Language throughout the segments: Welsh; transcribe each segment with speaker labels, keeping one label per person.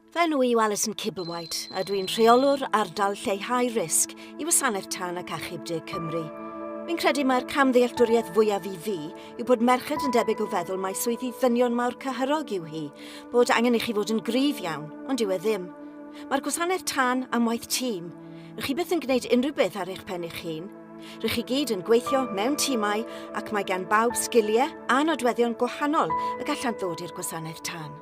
Speaker 1: Fy enw i yw Alison Kibberwhite a dwi'n rheolwr ardal lleihau risg i Wasanaeth Tân ac Achub De Cymru. Fi'n credu mae'r cam ddealltwriaeth fwyaf i fi yw bod merched yn debyg o feddwl mae swyddi ddynion mawr cyhyrog yw hi, bod angen i chi fod yn gryf iawn, ond yw e ddim. Mae'r gwasanaeth tân am waith tîm. Rydych chi byth yn gwneud unrhyw beth ar eich pen eich hun. Rŷch chi gyd yn gweithio mewn timau ac mae gan bawb sgiliau a nodweddion gwahanol y gallant ddod i'r gwasanaeth tân.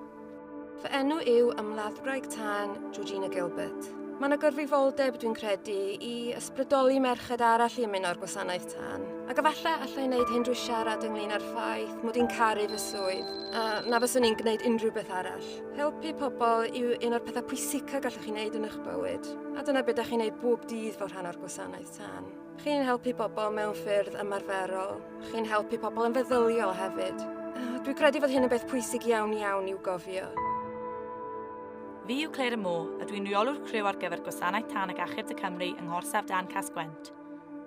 Speaker 1: Fy enw
Speaker 2: yw Ymladdwraig Tân Georgina Gilbert. Mae yna gyrfifoldeb, dwi'n credu, i ysbrydoli merched arall i ymuno'r gwasanaeth tân. Ac efallai allai wneud hyn drwy siarad ynglyn â'r ffaith mod i'n caru fy swydd, a na fyswn i'n gwneud unrhyw beth arall. Helpu pobl yw un o'r pethau pwysica gallwch chi wneud yn eich bywyd, a dyna beth da chi'n gwneud bob dydd fel rhan o'r gwasanaeth. Tan. Chi'n helpu pobl mewn ffyrdd ymarferol. Chi'n helpu pobl yn feddyliol hefyd. Uh, Dwi'n credu fod hyn yn beth pwysig iawn iawn i'w gofio.
Speaker 3: Fi yw Claire y Mo, a dwi'n rheolwr criw ar gyfer Gwasanaeth Tan ac Achub y Cymru yng Ngorsaf Dan Casgwent.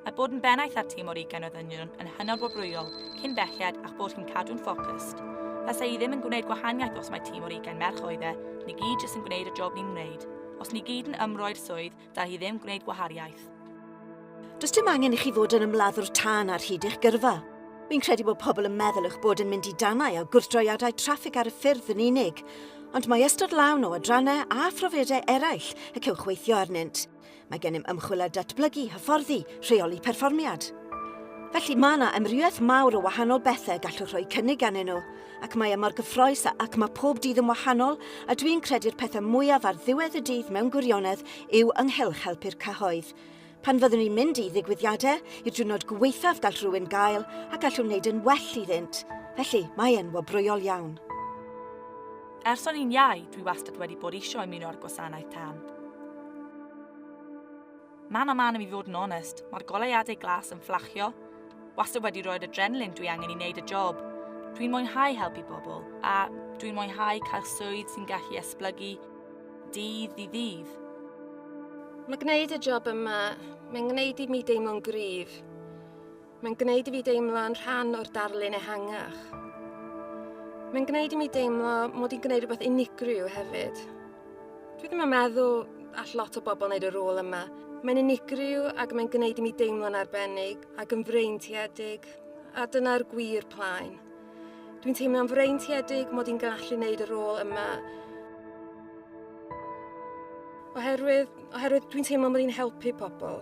Speaker 3: Mae bod yn bennaeth ar tîm o'r ugain o ddynion yn hynod wobrwyol, cyn belled a'ch bod chi'n cadw'n ffocust. Fasa i ddim yn gwneud gwahaniaeth os mae tîm o'r ugain merch oedd e, ni gyd jyst yn gwneud y job ni'n wneud. Os ni gyd yn ymroi'r swydd, da hi ddim gwneud gwahariaeth. Does
Speaker 1: dim angen i chi fod yn ymladdwr tân ar hyd eich gyrfa. Fi'n credu bod pobl yn meddwl eich bod yn mynd i danau a gwrthdroiadau traffig ar y ffyrdd yn unig, ond mae ystod lawn o adrannau a phrofiadau eraill y cewch weithio arnynt. Mae gennym ymchwil a datblygu, hyfforddi, rheoli perfformiad. Felly mae yna amrywiaeth mawr o wahanol bethau gallwch roi cynnig ganddyn nhw. ac mae e mor gyffroes a ac mae pob dydd yn wahanol a dwi'n credu'r pethau mwyaf ar ddiwedd y dydd mewn gwirionedd yw ynghylch helpu'r cyhoedd. Pan fyddwn ni'n mynd i ddigwyddiadau, i'r diwrnod gweithaf gall rhywun gael a gallwn wneud yn well iddynt. Felly, mae e'n wobrwyol iawn.
Speaker 3: Ers o'n i'n iau, dwi wastad wedi bod eisiau ymuno â'r gwasanaeth tân. Man a man i mi fod yn onest, mae'r goleuadau glas yn fflachio. Wastad wedi roi'r adrenalin dwi angen i wneud y job. Dwi'n mwynhau helpu bobl, a dwi'n mwynhau cael swydd sy'n gallu esblygu dydd i ddydd.
Speaker 2: Mae gwneud y job yma, mae'n gwneud i mi deimlo'n gryf. Mae'n gwneud i fi deimlo yn rhan o'r darlun ehangach. Mae'n gwneud i mi deimlo mod i'n gwneud rhywbeth unigryw hefyd. Dwi ddim yn meddwl all lot o bobl wneud y rôl yma. Mae'n unigryw ac mae'n gwneud i mi deimlo'n arbennig ac yn freintiedig, a dyna'r gwir plaen. Dwi'n teimlo'n freintiedig mod i'n gallu wneud y rôl yma. Oherwydd, oherwydd dwi'n teimlo mod i'n helpu pobl.